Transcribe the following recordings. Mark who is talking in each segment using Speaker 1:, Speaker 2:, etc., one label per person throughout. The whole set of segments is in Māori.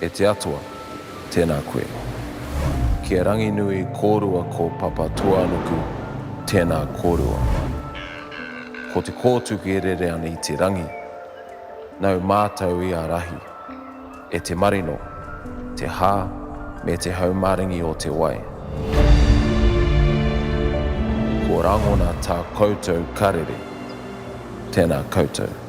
Speaker 1: E te Atua, tēnā koe. Ki a Ranginui kōrua ko Papatūānuku, tēnā kōrua. Ko Te Kōtuku e rere ana i te rangi, nau mātau i ārahi e te marino, te hā me te haumaringi o te wai. Ko Rangona tā koutou karere, tēnā koutou.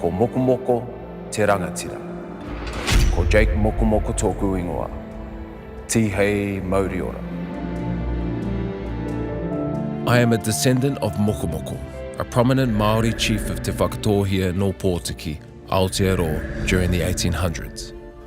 Speaker 1: Ko Mokomoko te rangatira. Ko Jake Mokomoko tōku ingoa. Tihei mauri ora. I am a descendant of Mokomoko, a prominent Māori chief of Te Whakatōhea nō Pōtiki, Aotearoa during the 1800s.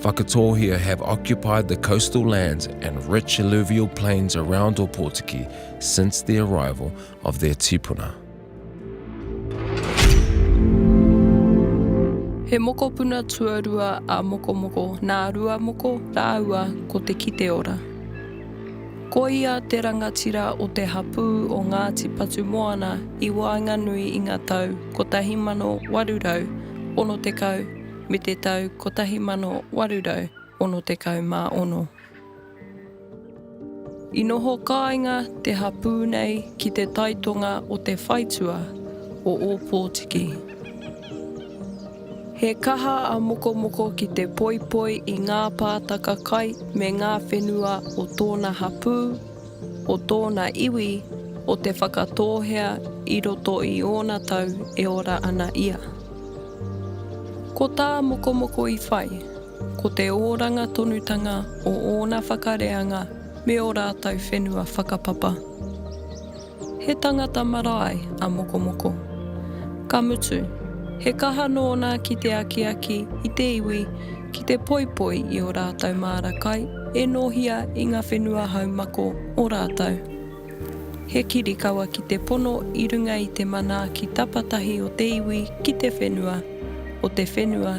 Speaker 1: Whakatōhea have occupied the coastal lands and rich alluvial plains around Opotiki since the arrival of their tipuna.
Speaker 2: He mokopuna tuarua a Mokomoko nā Ruamoko rāua ko Te Kiteora. Ko ia te rangatira o te hapū o Ngāti Patumoana i waenganui i ngā tau 1860 me te tau 1866. I noho kāinga te hapū nei ki te taitonga o te whaitua o Ōpōtiki. He kaha a Mokomoko ki te poipoi i ngā pātaka kai me ngā whenua o tōna hapū, o tōna iwi o Te Whakatōhea i roto i ōna tau e ora ana ia. Ko tā Mokomoko i whai, ko te ōranga tonutanga o ōna whakareanga me ō rātou whenua whakapapa. He tangata marae a Mokomoko. Ka mutu, he kaha nōna ki te akiaki i te iwi ki te poipoi i ō rātou māra kai e nōhia i ngā whenua haumako o rātou. He kirikawa ki te pono i runga i te manaaki tapatahi o te iwi ki te whenua, o te whenua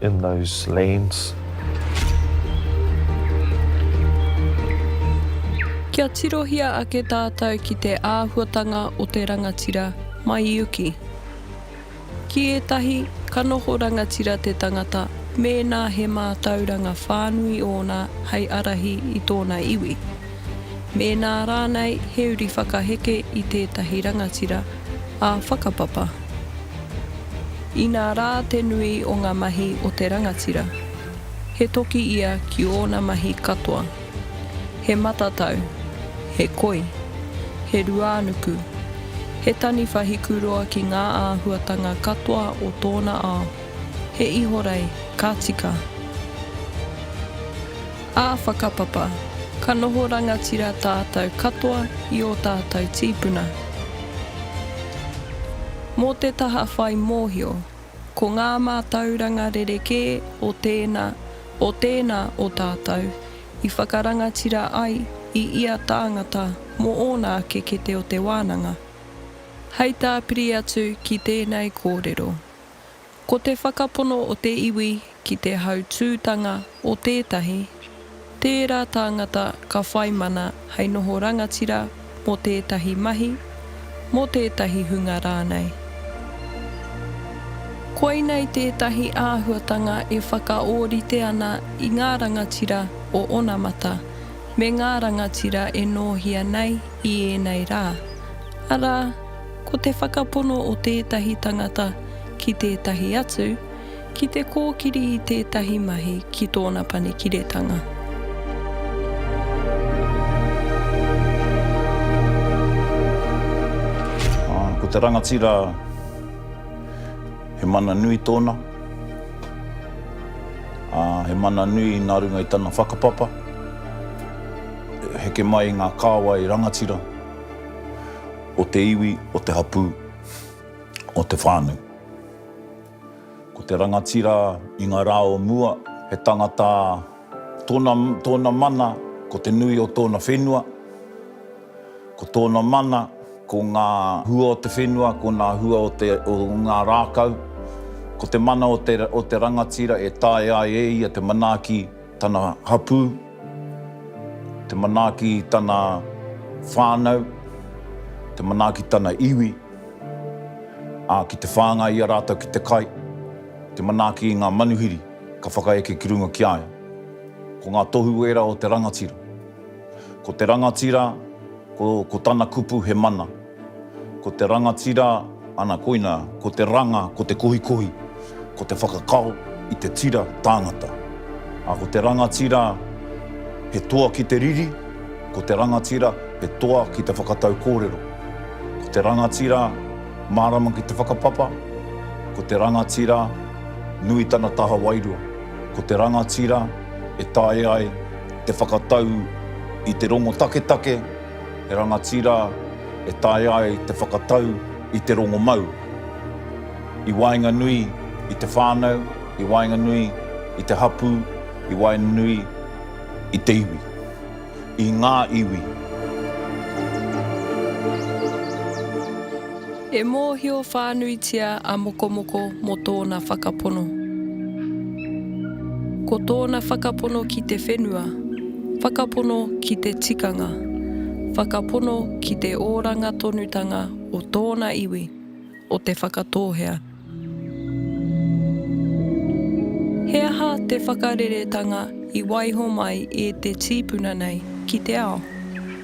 Speaker 3: In those lands.
Speaker 2: Kia tirohia ake tātou ki te āhuatanga o te rangatira mai i uki. Ki ētahi, ka noho rangatira te tangata mēnā he mātauranga whānui ōna hei ārahi i tōna iwi. Mēnā rānei he uri whakaheke i tētahi rangatira, ā whakapapa. Inā rā te nui o ngā mahi o te rangatira, he toki ia ki ōna mahi katoa. He matatau, he koi, he ruānuku, he taniwha hikuroa ki ngā āhuatanga katoa o tōna ao, he ihorei ka tika. Ā whakapapa, ka noho rangatira tātou katoa i ō tātou tīpuna. Mō te taha whai mōhio, ko ngā mātauranga rerekē o tēnā, o tēnā o tātou i whakarangatira ai i ia tāngata mō ōna ake kete o te wānanga. Hei tāpiri atu ki tēnei kōrero, Ko te whakapono o te iwi ki te hautūtanga o tētahi, tērā tāngata ka whai mana hei noho rangatira mō tētahi mahi, mō tētahi hunga rānei. Koinei tētahi āhuatanga e whakaōrite ana i ngā rangatira o onamata me ngā rangatira e nōhia nei i ēnei rā, arā, Ko te whakapono o tētahi tangata ki tētahi atu, ki te kōkiri i tētahi mahi ki tōna panekiretanga.
Speaker 4: Ko te rangatira, he mana nui tōna, he mana nui nā runga i tana whakapapa, heke mai i ngā kāwai rangatira. o te iwi, o te hapū, o te whānau. Ko te rangatira i ngā rā o mua, he tangata tōna, tōna mana ko te nui o tōna whenua, ko tōna mana ko ngā hua o te whenua, ko ngā hua o te, o ngā rākau, ko te mana o te, o te rangatira e taea ai e ia te manaaki, Tana hapū, te manaaki i tana whānau, te manaaki i tana iwi, ā, ki te whāngai i a rātou ki te kai, te manaaki i ngā manuhiri ka whakaeke ki runga ki a ia. Ko ngā tohu ērā o te rangatira. Ko te rangatira, ko, ko tana kupu he mana. Ko te rangatira, ana koina, ko te ranga, ko te kohikohi, ko te whakakao i te tira tāngata. A ko te rangatira, he toa ki te riri, ko te rangatira, he toa ki te whakatau kōrero. Ko te rangatira, mārama ki te whakapapa, ko te rangatira, nui tana taha wairua, ko te rangatira, e taea ai te whakatau i te rongo taketake, He rangatira e taea ai te whakatau i te rongomau i waenganui i te whānau, i waenganui i te hapū, i waenganui i te iwi, i ngā iwi.
Speaker 2: E mōhio whānuitia a Mokomoko mō tōna whakapono. Ko tōna whakapono ki te whenua, whakapono ki te tikanga, whakapono ki te oranga tonutanga o tōna iwi, o Te Whakatōhea. He aha te whakareretanga i waiho mai e te tīpuna nei ki te ao?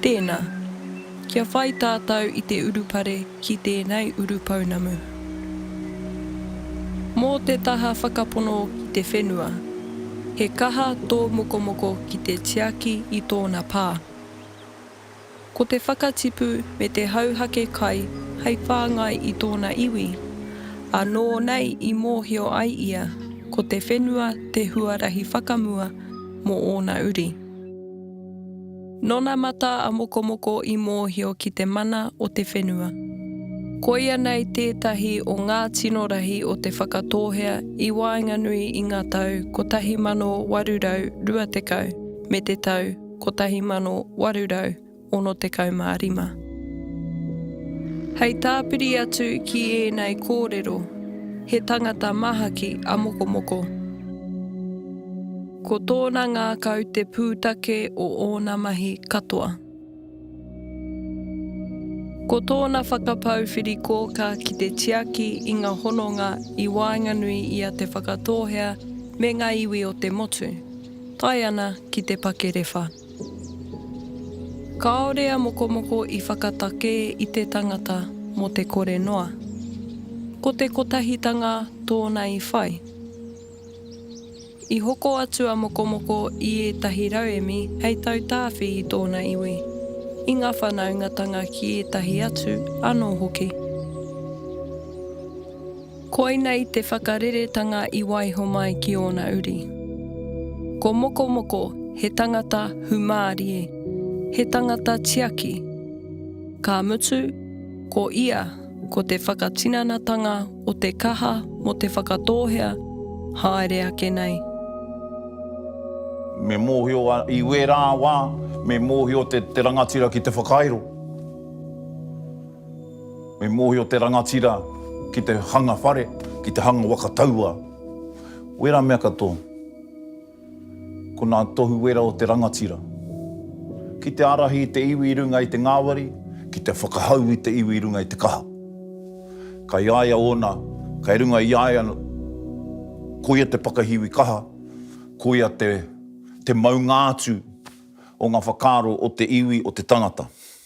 Speaker 2: Tēnā, kia whai tātou i te urupare ki tēnei urupounamu. Mō te taha whakapono ki te whenua, he kaha tō mokomoko ki te tiaki i tōna pā. Ko te whakatipu me te hauhake kai hei whāngai i tōna iwi. Anō nei i mōhio ai ia ko te whenua te huarahi whakamua mō ōna uri. Nōna matā a Mokomoko i mōhio ki te mana o te whenua. Koia nei tētahi o ngā tino rahi o Te Whakatōhea i waenganui i ngā tau 1820 me te tau 1865. Hei tāpiri atu ki ēnei kōrero, he tangata mahaki a Mokomoko. Ko tōna ngākau te pūtake o ōna mahi katoa. Ko tōna whakapau whiri kōkā ki te tiaki i ngā hononga i waenganui i a Te Whakatōhea me ngā iwi o te motu. Tae ana ki te pakerewha. Kāore a Mokomoko i whakatakē i te tangata mō te kore noa. Ko te kotahitanga tōna i whai. I hoko atu a Mokomoko i ētahi rauemi hei tautāwhi i tōna iwi, i ngā whanaungatanga ki ētahi atu anō hoki. Koinei te whakareretanga i waiho mai ki ōna uri. Ko Mokomoko he tangata humārie, he tangata tiaki. Ka mutu, ko ia ko te whakatinanatanga o te kaha mō te Whakatōhea haere ake nei.
Speaker 4: Me mōhio i wērā wā, me mōhio te rangatira ki te whakairo. Me mōhio te rangatira ki te hanga whare, ki te hanga waka taua. Wera mea katoa, ko nā tohu wera o te rangatira. Ki te ārahi i te iwi i runga i te ngāwari, ki te whakahau i te iwi i runga i te kaha. Kai a ia ōna, kai runga i a ia koia te pakahiwi kaha, koia te maunga atu o ngā whakaaro o te iwi, o te tangata.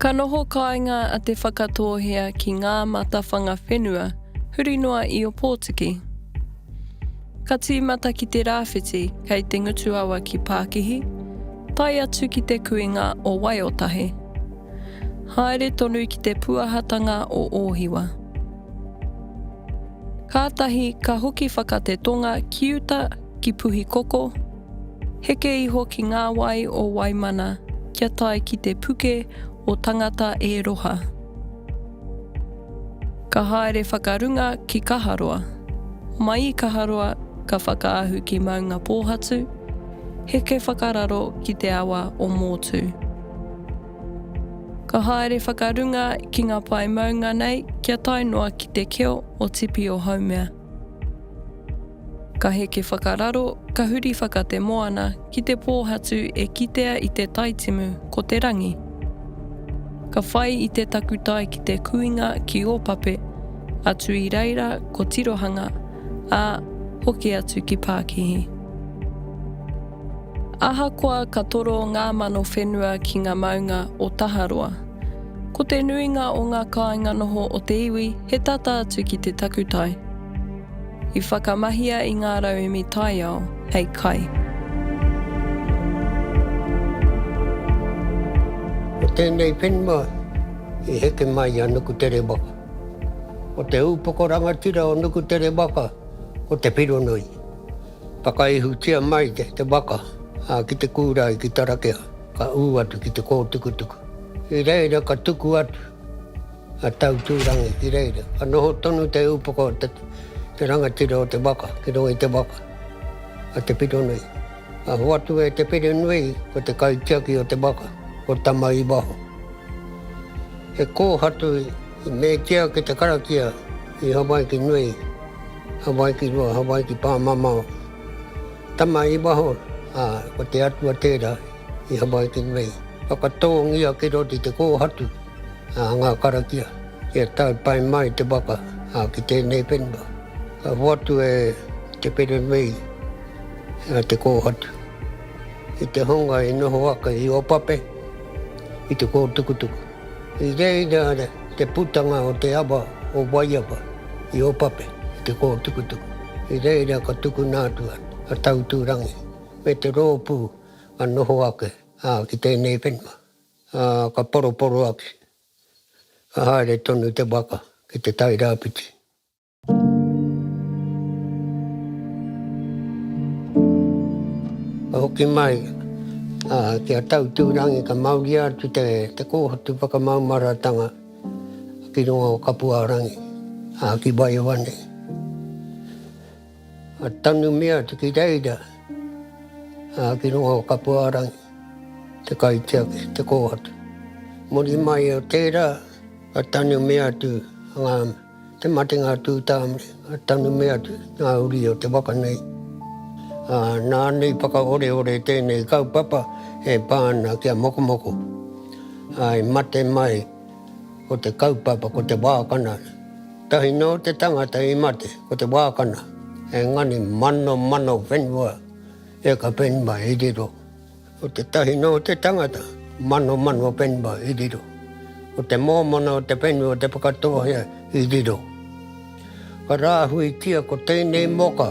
Speaker 2: Ka noho kāinga a Te Whakatōhea ki ngā matawhanga whenua huri noa i Opotiki. Ka tīmata ki te rāwhiti kei te ngutuawa ki Pākihi, tae atu ki te kuinga o Waiotahe. Haere tonu ki te puahatanga o Ōhiwa. Kātahi ka hoki whaka te tonga ki uta ki Puhikoko, Heke iho ki ngā wai o Waimana kia tae ki te puke o Tangata e Roha. Ka haere whakarunga ki Kaharoa. Mai i Kaharoa ka whakaahu ki Maungapōhatu, heke whakararo ki te awa o Mōtū. Ka haere whakarunga ki ngā pae maunga nei kia tae noa ki te keo o Tipi-o-Haumea. Ka heke whakararo, ka huri whaka te moana ki te pōhatu e kitea i te taitimu ko te rangi. Ka whai i te takutai ki te kuinga ki Opape, atu i reira ko Tirohanga, ā, hoki atu ki Pākihi. Ahakoa ka toro ngā mano whenua ki ngā maunga o Taharoa, Ko te nuinga o ngā kāinga noho o te iwi he tata atu ki te takutai. I whakamahia i ngā rauemi taiao hei kai.
Speaker 5: Ko tēnei whenua i heke mai i a Nukutere waka. Ko te ūpoko rangatira o Nukutere waka ko Te Whironui. Whakaihutia mai te waka ki te kūrae ki Tarakea, ka ū atu ki te kōtukutuku. I reira ka tuku atu a Tautūrangi ki reira, ka noho tonu te upoko o te rangatira o te waka ki roa i te waka a Te Whironui. Ka hoatu e Te Whirinui ko te kaitiaki o te waka, ko Tama-i-waho. He kōhatu i metia ki te karakia i Hawaiki nui. Hawaiki rua, Hawaiki pāmamao. Tama i waho, ā, ko te Atua tērā i Hawaiki rua i. Whakatōngia ki roto i te kōhatu a ngā karakia kia tae pai mai te waka, ā, ki tēnei whenua. Ka hoatu e Te Wherewhei a te kōhatu i te hunga i noho ake i Opape, i te kōtukutuku. I reira te putanga o te awa o Waiawa i Opape i te kōtukutuku. I reira ka tukuna atu a Tauturangi me te rōpū ka noho ake ki tēnei whenua, ā, ka poroporo ake, ka haere tonu te waka ki te Tairāwhiti. Ka hoki mai ki a Tautūrangi ka mauria atu te kōhatu whakamaumaratanga ki runga o Kapuārangi, ki Waiowa nei. Ka tanumia atu ki reira ki runga o Kapuārangi te kaitiaki, te kōhatu. Muri mai o tērā ka tanumia atu ngā. Te matenga a Tūtāmare, a Tanumē atu, ngā uri o te waka nei. Ā, nā nei whakaoreore tēnei kaupapa e pā ana ki a Mokomoko. Ā, i mate mai ko te kaupapa, ko Te Wākana. Tahi nō te tangata i mate, ko Te Wākana, engari manomano whenua e ka whenua i riro. Ko tētahi nō te tangata, Manomano Penba i riro. Ko te mōmona o te whenua o Te Whakatōhea i riro. Ka rāhuitia ko tēnei moka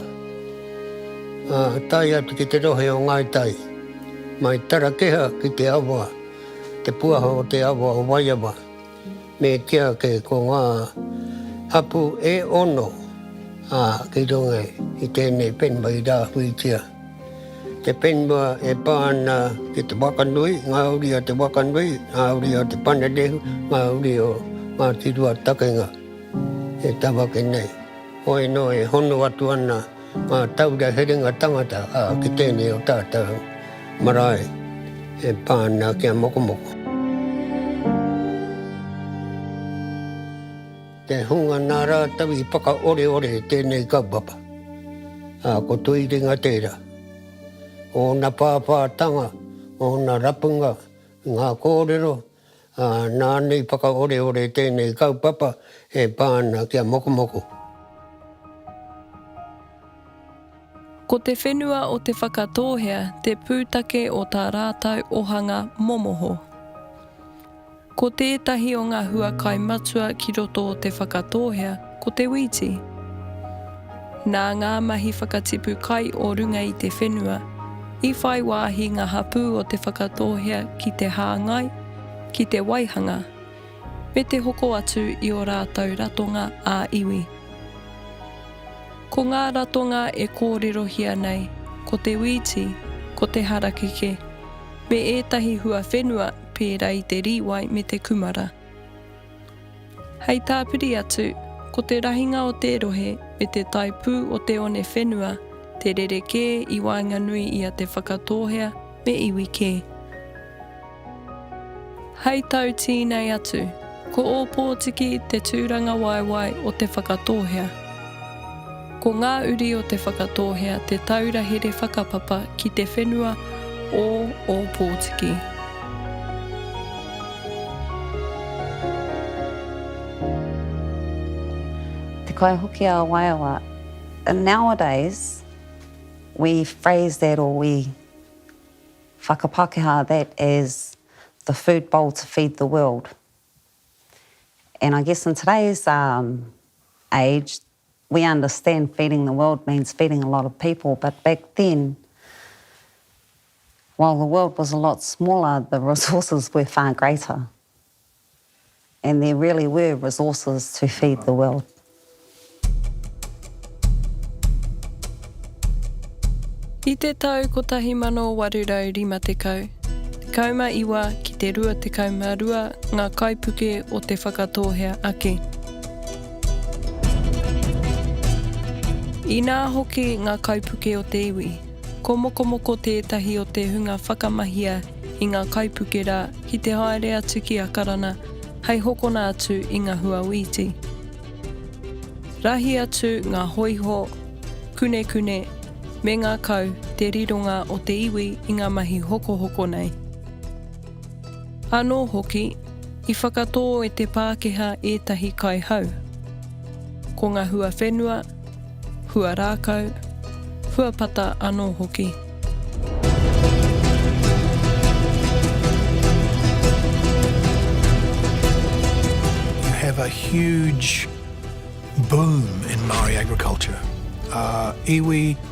Speaker 5: a tae atu ki te rohe o Ngāi Tai, mai Tarakeha ki te awa, te puaha o te awa o Waiawa. Me kīa ake ko ngā hapū e ono ki runga i tēnei whenua i rāhuitia. Te whenua e pā ana ki te whakanui, ngā uri a te whakanui, ngā uri a te panerehu, ngā uri o Ngāti Ruatakenga e tawake nei. Hoi nō e hono atu ana. Ngā taura herenga tangata a ki tēnei o tātou marae e pā ana ki a Mokomoko. Te hunga nā rātou i whakaoreore tēnei kaupapa, ā, ko Tuiringa tērā. Ōna pāpātanga, ōna rapunga, ngā kōrero, Ā, nāna i whakaoreore tēnei kaupapa e pā ana ki a Mokomoko.
Speaker 2: Ko te whenua o Te Whakatōhea te pūtake o tā rātou ohanga momoho. Ko tētahi o ngā huakae matua ki roto o Te Whakatōhea, Ko te wīti. Nā ngā mahi whakatipu kai o runga i te whenua, i whai wāhi ngā hapū o Te Whakatōhea ki te hāngai, ki te waihanga, me te hoko atu i ō rātou ratonga ā-iwi. Ko ngā ratonga e kōrerohia nei, ko te wīti, ko te harakeke, me ētahi huawhenua pērā i te rīwai me te kumara. Hei tāpiri atu, ko te rahinga o te rohe me te taipū o te one whenua te rerekē i waenganui i a Te Whakatōhea me iwi kē. Hei tau tīnei atu, ko Ōpōtiki te tūrangawaewae o Te Whakatōhea. Ko ngā uri o Te Whakatōhea te taura here whakapapa ki te whenua o Ōpōtiki.
Speaker 6: Te Kaihoki a Waiawa, nowadays we phrase that or we whakapākehā that as the food bowl to feed the world and I guess in today's age We understand feeding the world means feeding a lot of people but back then while the world was a lot smaller the resources were far greater and there really were resources to feed the world.
Speaker 2: I te tau 1850, 19 ki te 22 ngā kaipuke o Te Whakatōhea Ake. Inā hoki ngā kaipuke o te iwi, ko Mokomoko tētahi o te hunga whakamahia i ngā kaipuke rā ki te haere atu ki Akarana hei hokona atu i ngā hua wīti. Rahi atu ngā hoiho, kunekune, me ngā kau te rironga o te iwi i ngā mahi hokohoko nei. Anō hoki, i whakatō e te Pākehā ētahi kai hau. Ko ngā hua whenua, hua rākau, hua pata anō hoki.
Speaker 7: have a huge boom in Maori agriculture. Uh, iwi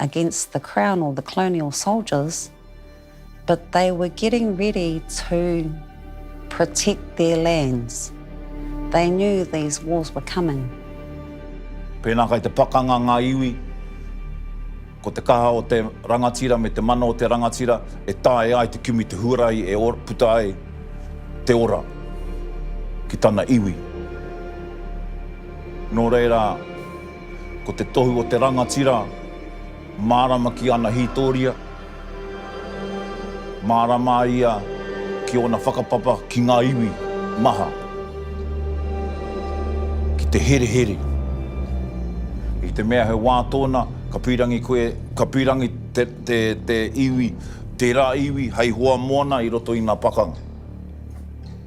Speaker 6: against the Crown or the colonial soldiers, but they were getting ready to protect their lands. They knew these wars were coming.
Speaker 4: Pēnā kai te pakanga ngā iwi, ko te kaha o te rangatira me te mana o te rangatira e taea ai te kimi te huarahi e puta ai te ora ki tana iwi. Nō reira, Ko te tohu o te rangatira, mārama ki ana hītoria, mārama ia ki ōna whakapapa ki ngā iwi maha, ki te herehere. I te mea he wā tōna, ka pīrangi koe, ka pīrangi te iwi, tērā iwi hei hoa moana i roto i ngā pakanga.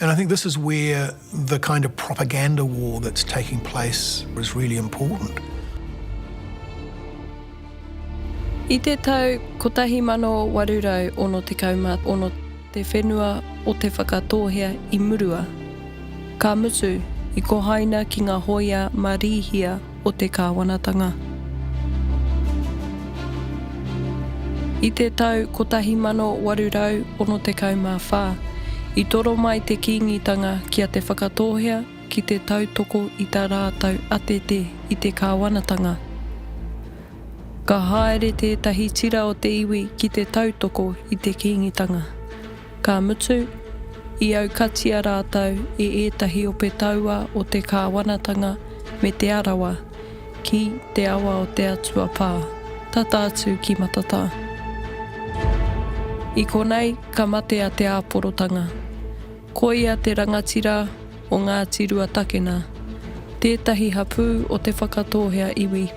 Speaker 7: And I think this is where the kind of propaganda war that's taking place is really important.
Speaker 2: I te tau 1866 te whenua o Te Whakatōhea i murua. Ka mutu, i kohaina ki ngā hōia mā Rīhia o te kāwanatanga. I te tau 1864, i toro mai te Kīngitanga ki a Te Whakatōhea ki te tautoko i tā rātou atete i te kāwanatanga. Ka haere tētahi tira o te iwi ki te tautoko i te Kīngitanga. Ka mutu, i aukatia rātou e ētahi ope taua o te kāwanatanga me Te Arawa ki te awa o Te Atua Pā, tata atu ki Matatā. I konei ka mate a Te Āporotanga. Koia te rangatira o Ngāti Ruatakena, tētahi hapū o Te Whakatōhea Iwi.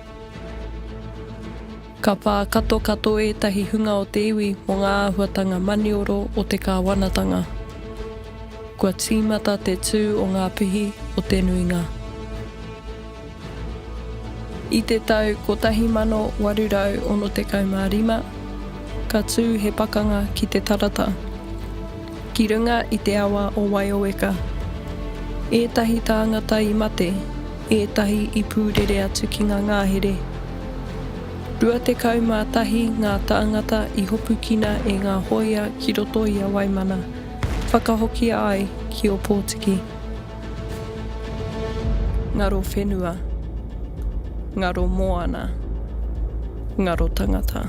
Speaker 2: Ka pā katokato ētahi hunga o te iwi mō ngā āhuatanga manioro o te kāwanatanga. Kua tīmata te tū o ngā pihi o te nuinga. I te tau 1865, ka tū he pakanga ki te tarata. Ki runga i te awa o Waioeka. Ētahi tāngata i mate, ētahi i pūrere atu ki ngā ngahere. Rua tekau mā tahi ngā tāngata i hopukina e ngā hōia ki roto i a Waimana, whakahokia ai ki Ōpōtiki. Ngaro whenua. Ngaro moana. Ngaro tangata.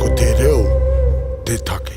Speaker 2: Ko te reo te take.